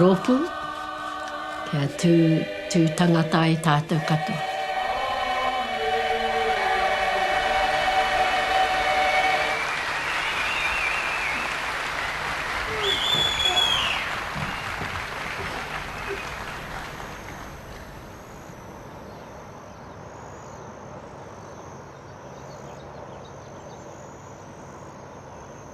Rōpū, kia tū, tū tangata ai tātou katoa.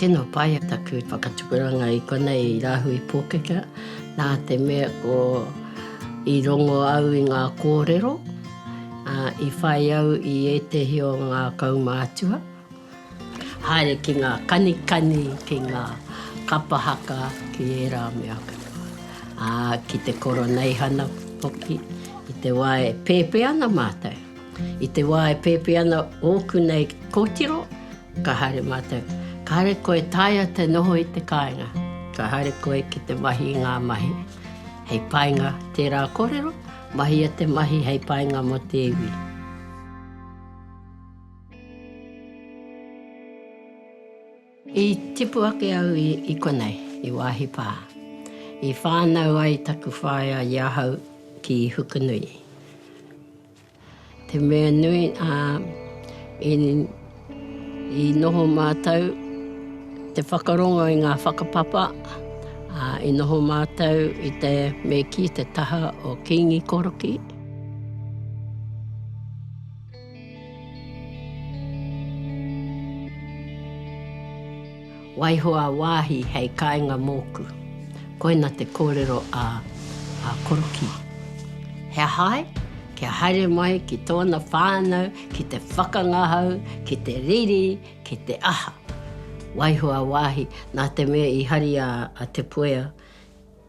Tēnā paea taku whakatupuranga i konei i Rāhui Pōkeka, nā te mea ko i rongo au i ngā kōrero, ā, i whai au i ētehi o ngā kaumātua, haere ki ngā kanikani, ki ngā kapa haka, ki ērā mea katoa, ā, ki te koroneihana hoki, i te wā e pēpē ana mātou. I te wā e pēpi ana ōku nei kōtiro, ka haere mātou, ka haere koe e taea te noho i te kāinga, ka haere koe ki te mahi i ngā mahi hei painga tērā kōrero, mahia te mahi hei painga mō te iwi. I tipu ake au i konei, i Waahi Pā. I whānau ai taku whaea i ahau ki Hukanui. Te mea nui, ā, i, i noho mātou te whakarongo i ngā whakapapa, ā, i noho mātou i te me kī te taha o Kīngi Koroki. Waiho a Waahi hei kainga mōku. Koina te kōrero a a Korokī. He aha ai? Kia haere mai ki tōna whānau ki te whakangahau, ki te riri, ki te aha. Waiho a Waahi, nā te mea i hari a a Te Puea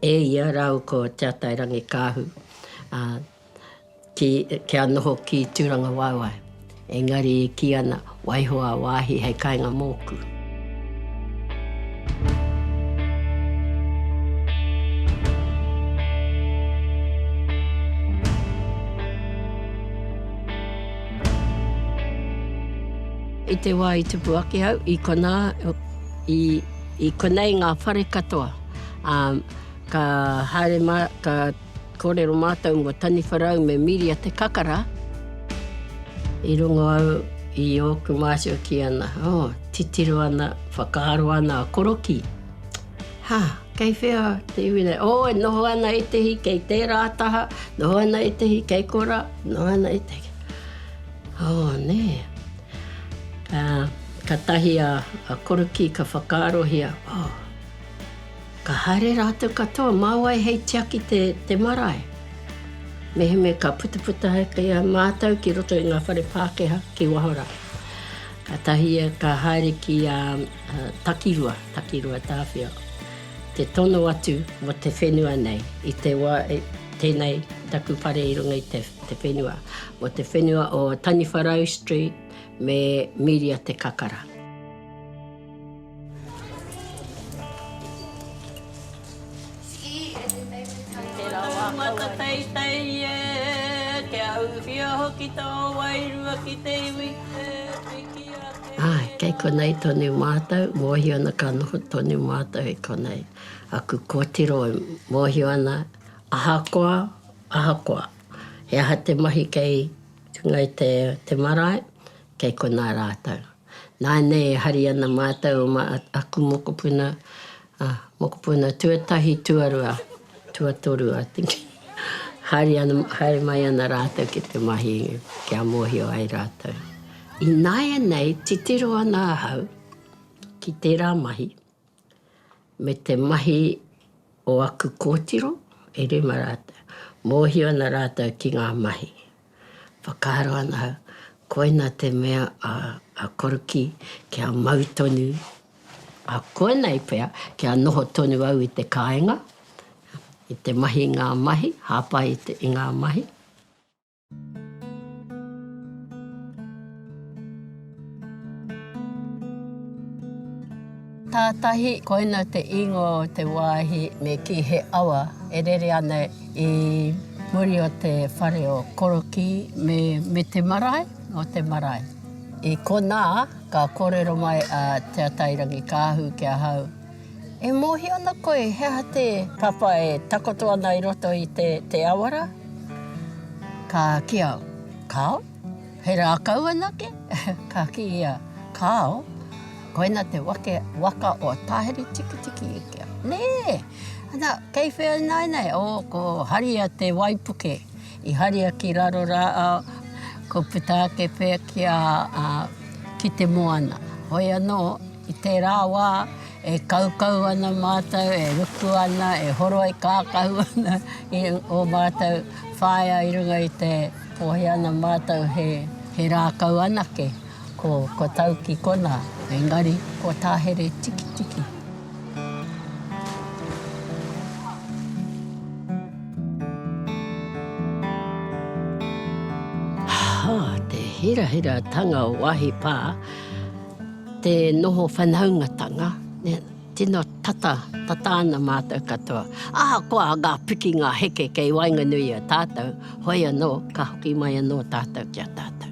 e ia rāua ko Te Atairangikaahu, ā, Kia noho ki Tūrangawaewae. Engari e kī ana, waiho a wāhi hei kainga mōku. I te wā i tupu ake au, i konā, i konei ngā whare katoa. Ka haere mā, ka. Kōrero mātou mō Taniwharau me Miria Te Kakara. I rongo au i ōku mātua ki ana, oh, titiro ana, whakaaro ana a Korokī. Ha, kei whea te iwi nei? Oh, e noho ana etehi kei tērā taha, noho ana etehi kei kora, noho ana etehi. Oh, nē. Uh, ka tahi a, a Korokī ka whakaarohia, oh, Ka haere rātou katoa mā wai hei tiaki te, te marae. Mehemea ka putaputa ake a mātou ki roto i ngā whare Pākehā ki waho rā. Kātahi ia ka haere ki a, a Takirua, Takirua Tāwhio, te tono atu mō te whenua nei, i te wā, e, tēnei taku whare i runga i te, te whenua, mō te whenua o Taniwharau Street me Miria Te Kakara. Kei konei tonu mātou, mōhio ana ka noho tonu mātou i konei. Aku kōtiro e mōhio ana, ahakoa, ahakoa he aha te mahi kei Ngāi Te Marae, Kei konā rātou. Nānei e hari ana mātou mā aku mokopuna, ā, mokopuna tuatahi, tuarua, tuatoru, I think, haere ana, haere mai ana rātou ki te mahi kia mōhio ai rātou. Ināianei titiro ana ahau ki tērā mahi. me te mahi o aku kōtiro, e rima rātou. Mōhio ana rātou ki ngā mahi. Whakaaro ana au, koina te mea a Korokī kia mau tonu, a koinei pea kia noho tonu au i te kāinga, i te mahi i ngā mahi, hāpai i ngā mahi. Tātahi koina te ingoa o te wāhi me kī he awa e rere ana i muri o te whare o Korokī me Mete Marae, o te marae. I konā ka kōrero mai a Te Atairangikaahu ki ahau. E mōhio ana koe he aha te. Papa e takoto ana i roto i te, te awara? Ka kia, Kāo? He rākau anake? Ka kī ia, Kāo, koina te wake, waka o Tāheri-tikitiki i kia. Nē! Ana, kei whea ināianei? Ō, ko Haria te waipuke. I haria ki raro rā, ko puta ake pea ki a, a, ki te moana. Hoi anō. I tērā wā, e kaukau ana mātou, e ruku ana, e horoi kākahu ana i ō mātou whaea i runga i te pōhē ana mātou he rākau anake, ko Tauki konā, engari ko Tāhere Tikitiki. Te hirahiratanga o Wahipā. Te noho whanaungatanga, tino tata, tata ana mātou katoa. Ahakoa ngā piki, ngā heke kei waenganui i a tātou, hoi anō, ka hoki mai anō tātou ki a tātou.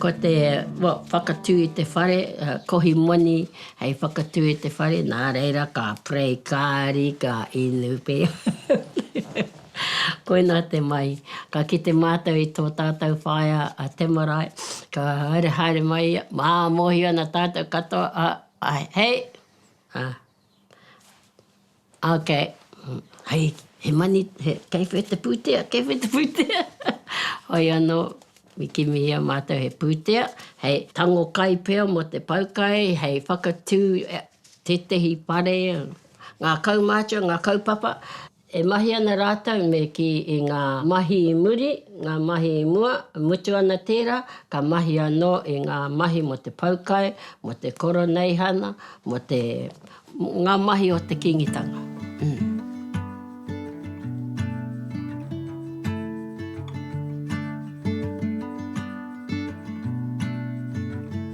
Ko te whakatū i te whare, kohi moni hei whakatū i te whare, nā reira ka pray kāri, ka inu pea. Koinā te mahi. Ka kite mātou i tō tātou whaea a Temarai, ka haere haere mai ia, ā, mōhio ana tātou katoa, ā, āe, hei! Ā, ā, okay. Hei, he mani, he, kei whea te pūtea, kei whea te pūtea? Hoi anō, i kimihia mātou he pūtea, hei tango kai pea mō te pau kai, hei whakatū tētehi whare, ngā kaumātua, ngā kaupapa. E mahi ana rātou me kī i ngā mahi i muri, ngā mahi i mua, e mutu ana tērā, ka mahi anō i ngā mahi mō te poukai, mō te koroneihana, mō te, ngā mahi o te Kīngitanga.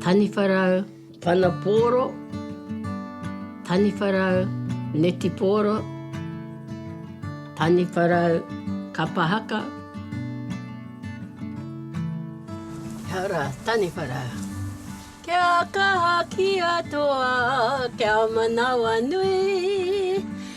Taniwharau. Whanapōro, Taniwharau, Netipōro, Taniwharau, Kapahaka, Hara, Taniwharau. Kia kaha ki a toa, kia manawa nui.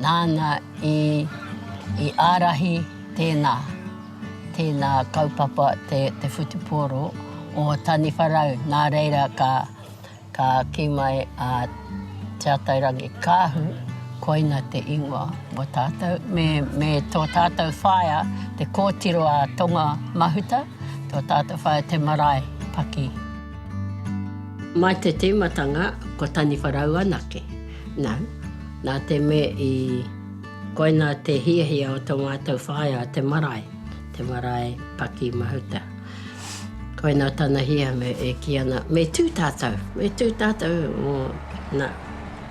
Nāna i i ārahi tēnā, tēnā kaupapa te te whutupōro o Taniwharau nā reira ka ka kī mai a Te Atairangi Kāhu koina te ingoa mō tātou me me tō tātou whaea te kōtiro a Tonga Mahuta tō tātou whaea te marae paki. Mai te tīmatanga ko Taniwharau anake. No. Na te me i koina te hiahia o to matou whaea te marae, te marae paki mahuta. Koina tana hia me e ki ana, me tu tatou, me tu tatou mo na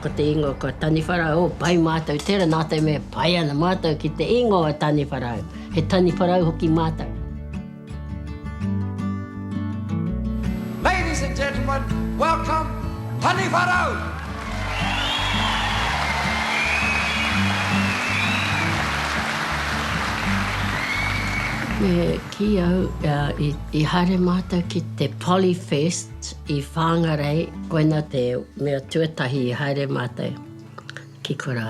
ko te ingoa ko Taniwharau, oh pai matou tera na te me pai ana matou ki te ingoa Taniwharau, he Taniwharau hoki matou. Ladies and gentlemen, welcome Taniwha Rau! Me kī au i haere mātou ki te Polyfest i Whāngarei, koina te mea tuatahi i haere mātou ki korā.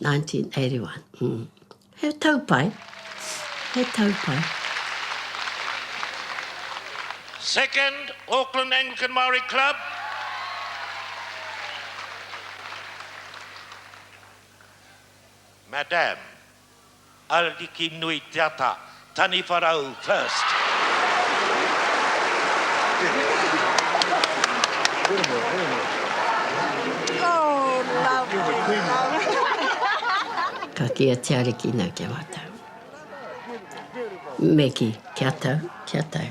1981. He tau pai, he tau pai. Second, Auckland Anglican Māori Club. Madame. Ariki nui te ata, taniwha rau first. Ka kīa te Ariki nei ki a mātou, Me kī, Kia tau, kia tau.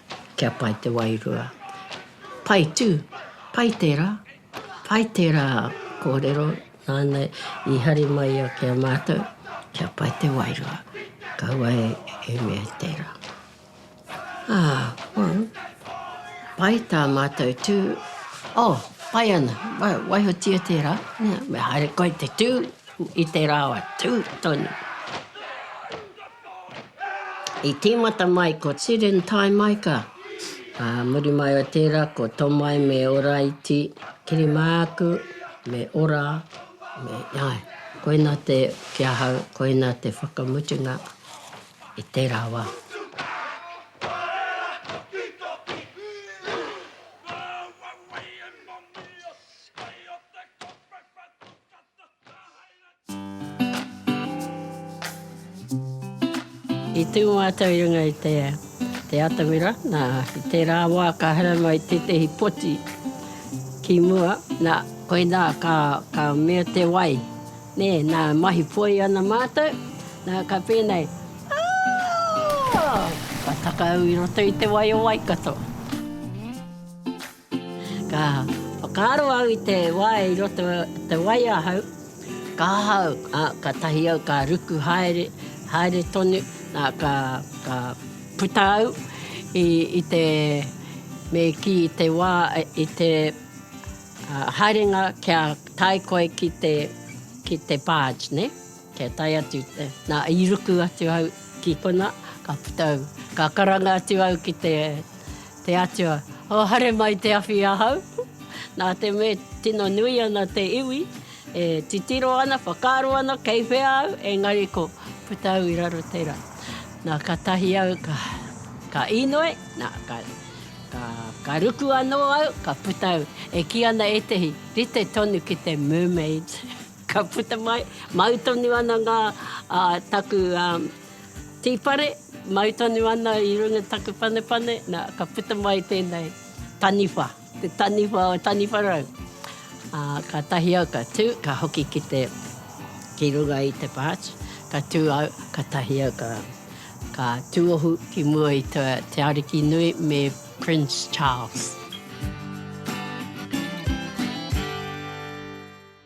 Kia pai te wairua. Pai tū, pai tērā, pai tērā kōrero nāna i hari mai a kia mātou, kia pai te wairua. Kaua e mea i tērā. Ā, well, pai tā mātou tū. Oh, pai ana, waihotia tērā. Nē, me haere koe te tū i te rāwa tū tonu. I tīmata mai ko Tiren Taimaika, ā, muri mai o tērā ko Tomai me Oraiti Kirimāku me Ora me, āe, koina te, ki ahau, koina te whakamutunga i tērā wā. I tū mātou i runga i te te atamira, nā, i tērā wā ka haere mai tētehi poti ki mua, nā, koinā ka, ka mea te wai, nē, nā, mahi poi ana mātou, nā, ka pēnei, Aa! Ka takau i roto i te wai o Waikato. Ka whakaaro au i te wā i roto te wai ahau, ka ahau, ā, kātahi au ka ruku haere, haere tonu, ā, ka, ka puta au i, i te, me kī i te wā, i te, ā, haerenga kia tae koe ki te, ki te barge, nē, kia tae atu te, nā, i ruku atu au ki konā, ka puta au, ka karanga atu au ki te, Te Atua, o haere mai te awhi i ahau. Nā te mea tino nui ana te iwi, e titiro ana, whakaaro ana kei whea au, engari ko puta au i raro tera. Na ka tahi au ka ka inoe, na ka ka ka ruku ano au, ka puta au. E ki ana etehi, rite tonu ki te mermaid. Ka puta mai, mau tonu ana nga taku Tī whare, mau tonu ana i runga taku panepane, nā, ka puta mai tēnei taniwha, te taniwha o Taniwharau. Ā, kātahi au ka tū, ka hoki ki te, ki runga i te patch, ka tū au, kātahi au ka, ka tūohu ki mua i te, te ariki nui me Prince Charles.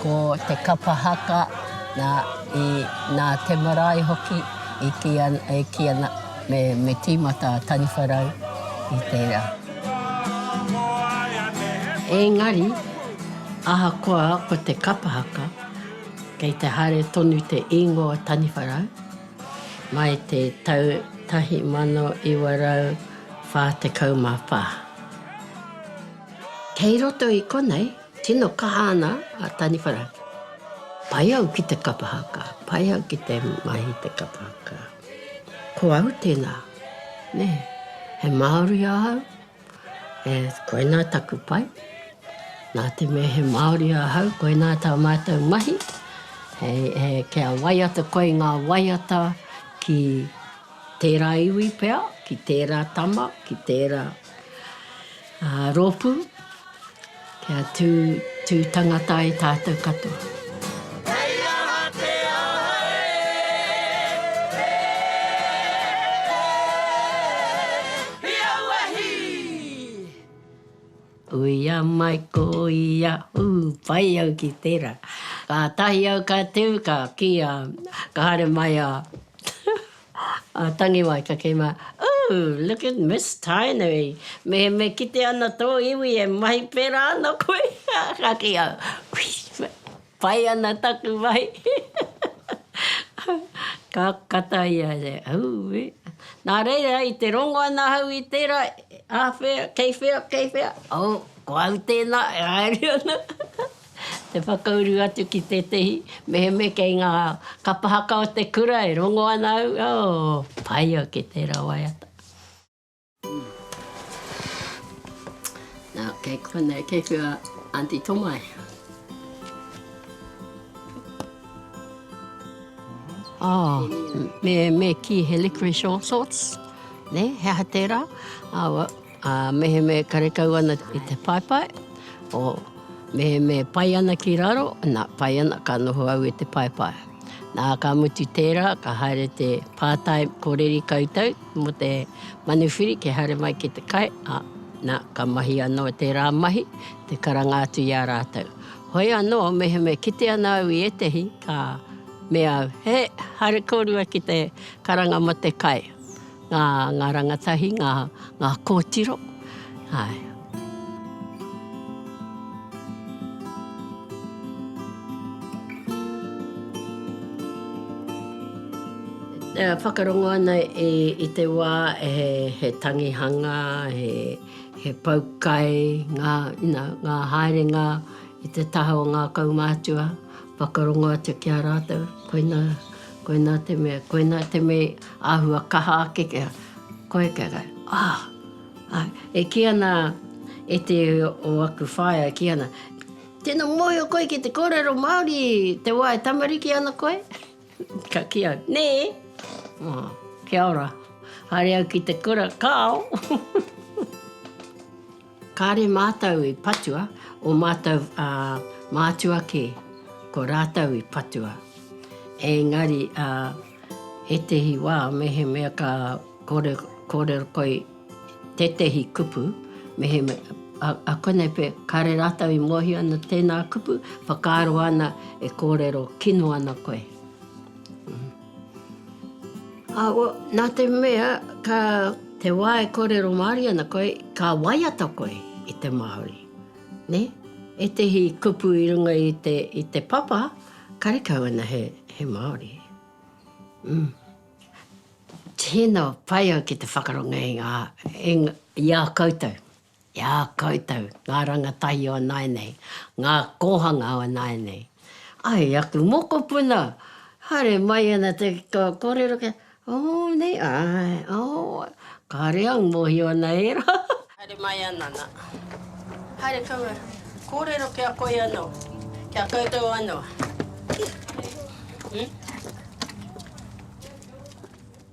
Ko te kapa haka, nā, i, nā te marae hoki, i kī ana, e kī ana, me, me tīmata a Taniwharau i tērā. Engari, ahakoa ko te kapa haka, kei te haere tonu te īngoa o Taniwharau, mai te tau 1944. Kei roto i konei Tino kaha ana a Taniwhara. Pai au ki te kapa haka, pai au ki te mahi i te kapa haka. Ko au tēnā, nē, he Māori ahau, e, koinā taku pai. Nā te mea he Māori ahau, koinā tā mātou mahi, he, he, kia waiata koe i ngā waiata ki tērā iwi pea, ki tērā tama, ki tērā. Rōpū, kia tū, tū tangata ai tātou katoa. Kei aha te aha e, e, e, i aua hī? Uia mai ko ia, ū, pai au ki tērā. Kātahi au ka tū, ka kī a, ka haere mai a. A tangi mai ka kī mai, Ooh, look at Miss Tainui, me me kite ana tō iwi e mahi pērā ana koe? Ka kī au, Whee, pai ana taku mahi. Ka kata ia e te, Ooh-wee. Nā reira, i te rongo ana au i tērā, āwhea, kei whea, kei whea, oh, ko au tēnā e haere ana. Te whakauru atu ki tētehi meheme kei ngā kapa haka o te kura e rongo ana au, oh, pai ake tērā waiata. Nā, kei konei, kei whea Aunty Tomae? Oh, me, me kī he liquorice all sorts, nē, he aha tērā? Ā, mehemē karekau ana i te paepae, o, mehemē pai ana ki raro, nā, pai ana, ka noho au i te paepae. Nā, ka mutu tērā, ka haere te pātai, ko reri koutou mō te manuwhiri kia haere mai ki te kai, ā, nā, ka mahi anō tērā mahi, te karanga atu i a rātou. Hoi anō, mehemē kite ana au i ētehi, ka mea au, He, haere kōrua ki te karanga mō te kai. Ngā, ngā rangatahi, ngā, ngā kōtiro, āe. E whakarongo ana i, i te wā he, he tangihanga, he, he pau kai, ngā, ina, ngā haerenga i te taha o ngā kaumātua, whakarongo atu ki a rātou, koinā, koinā te mea, koinā te mea. Āhua kaha ake kia koe kia koe, ah! E kī ana e te o aku whaea e kī ana, Tēnā mōhio koe ki te kōrero Māori te wā e tamariki ana koe? Ka kī au, Nē! Oh, kia ora, haere au ki te kura, kāo! Kāre mātou i patua, o mātou mātua kē, ko rātou i patua. Engari ā ētehi wā mehemea ka kore, kōrero koe tētehi kupu, mehemea, ā konei pea, kāre rātou i mōhio ana tēnā kupu, whakaaro ana e kōrero kino ana koe. Awa, nā te mea ka te wā e kōrero Māori ana koe, ka waiata koe i te Māori, nē? Ētehi kupu i runga i te, i te papa, karekau ana he, he Māori. Umm. Tēnā, pai au ki te whakarongo i ngā, i ngā, i a koutou. I a koutou, ngā rangatahi o nāianei, ngā kōhanga o nāianei. Ai, aku mokopuna, haere mai ana te kōrero kia, oh, nei, āe, oh, kāre au, mōhio ana e rā. Haere mai ana, nā. Haere kaua, kōrero ki a koe anō, ki a koutou anō. Hm?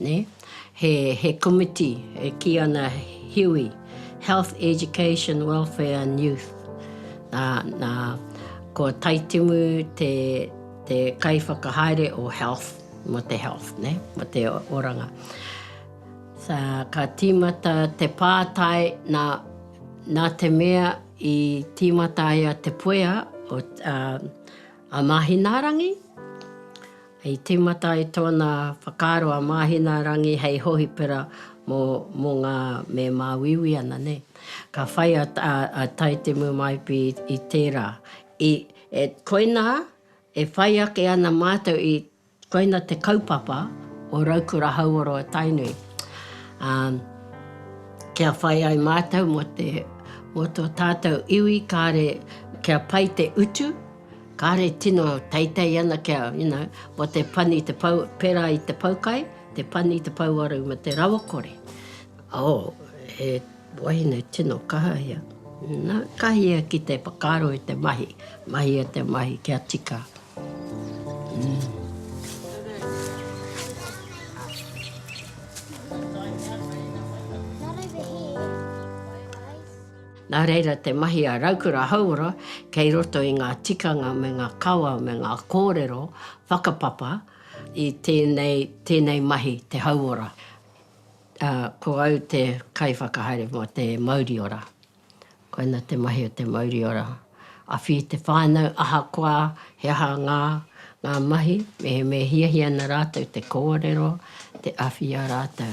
He komiti e kī ana HEWE, Health, Education, Welfare and Youth. Nā, ko Taitimu te kaiwhakahaere o Health, mō te Health, mō te oranga. Ka tīmata te pātai, nā te mea i tīmata ai a Te Puea, a Māhinaarangi, I tīmata ai tōna whakaaro a Māhinaarangi hei hohipera mō ngā me māuiui ana nei. Ka whai a Taitemu Maipi i tērā. I, e, koinā e whai ake ana mātou i, koina te kaupapa o Raukura Hauoro a Tainui, ā, kia whai ai mātou mō te, mō tō tātou iwi kāre kia pai te utu, Kāre tino teitei ana kia, you know, mō te pani te pou, pērā i te poukai, te pani, te pouaru me te rawakore. Oh, he wahine tino kaha ia. Na, ka hia ki te whakaaro i te mahi, mahia te mahi kia tika. Nā reira te mahi a Raukura Hauora kei roto i ngā tikanga me ngā kawa me ngā kōrero whakapapa i tēnei, tēnei mahi te hauora. Ā, ko au te kaiwhakahaere mō te mauri ora. Koina te mahi o te mauri ora. Awhi i te whānau ahakoa he aha ngā, ngā mahi, mehemea e hiahia ana rātou te kōrero, te awhi i a rātou.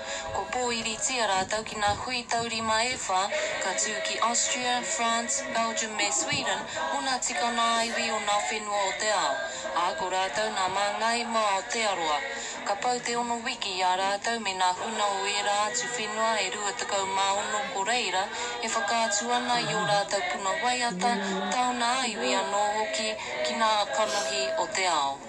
Kua pōiritia rātou ki ngā hui taurima e whā, ka tū ki Austria, France, Belgium me Sweden mō ngā tikanga ā-iwi o ngā whenua o te ao, ā, ko rātou ngā māngai mō Aotearoa. Ka pau te ono wiki i a rātou me ngā huna o ērā atu whenua e 26 ko reira e whakaatu ana i ō rātou puna waiata, taona ā-iwi anō hoki ki ngā kanohi o te ao.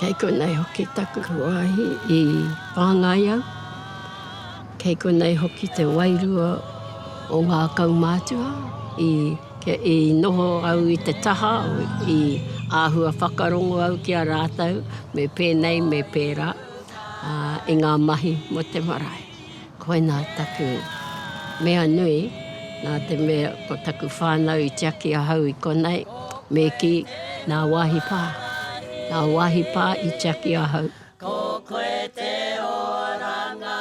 Kei konei hoki taku wāhi i whāngai au. Kei konei hoki te wairua o ngā kaumātua i i noho au i te taha, i āhua whakarongo au ki a rātou me pēnei me pērā i ngā mahi mō te marae. Koinā taku mea nui, nā te mea ko taku whānau i tiaki ahau i konei, me kī, nā wāhi pā, nā wāhi pā i tiaki ahau. Ko koe te oranga.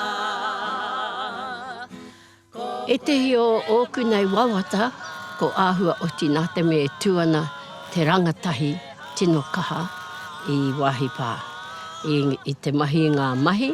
Ētehi o ōku nei wawata, ko āhua oti nā te mea e tū ana te rangatahi tino kaha i wāhi pā, i te mahi i ngā mahi,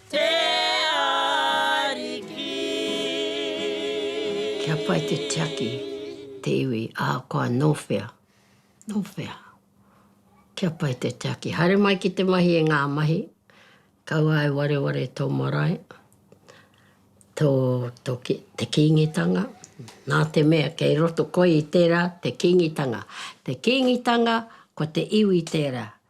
Te Ariki. Kia pai te tiaki te iwi ahakoa no whea, no whea. Kia pai te tiaki. Haere mai ki te mahi e ngā mahi. Kaua e wareware tō marae, tō, tō, te Kīngitanga. Nā te mea kei roto koe i tērā te Kīngitanga. Te Kīngitanga, ko te iwi tērā.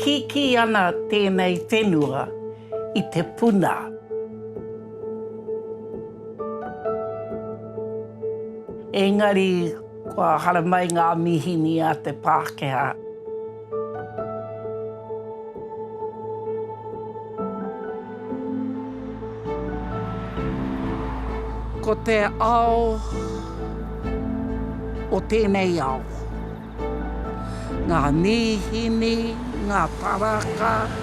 Kikī ana tēnei whenua i te puna. Engari kua haramai ngā mihini a te Pākehā. Ko te ao o tēnei ao, ngā mīhini, ngā taraka.